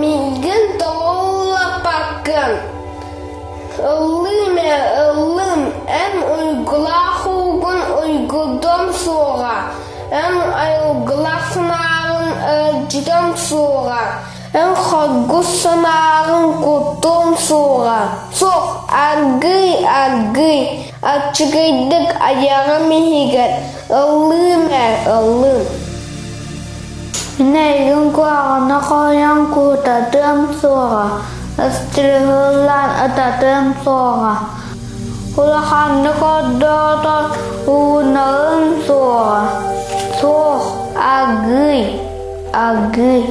Миигин толлоппоккун. Ыллыым эрэ ыллыым, эн уйгулаах уугун уйгурдуом суоҕа, эн айылгылаах санааҕын өлдьүтүөм суоҕа, эн хоргус санааҕын куттуом суоҕа. Суох, аргыый, аргыый. Аччыгыйдык айаҕым иһигэр ыллыым ээ, ыллыым Нэйигин куһаҕаны хоһуйан куутатыам суоҕа, ыстырыһыллан ытатыам суоҕа Улаханнык ордоотор уунуом суоҕа Суох, агый, агый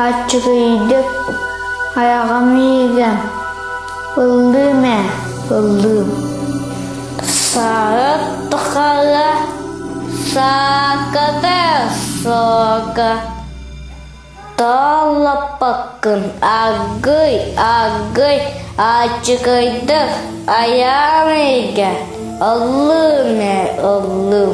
Аччыгыйдык айаҕым иһигэр Ыллыым ээ, ыллыым. Саары тухары саакыты сууга толлоппуккун аргый аргый ачыкайдык аяныйга ыллыым ээ ыллыым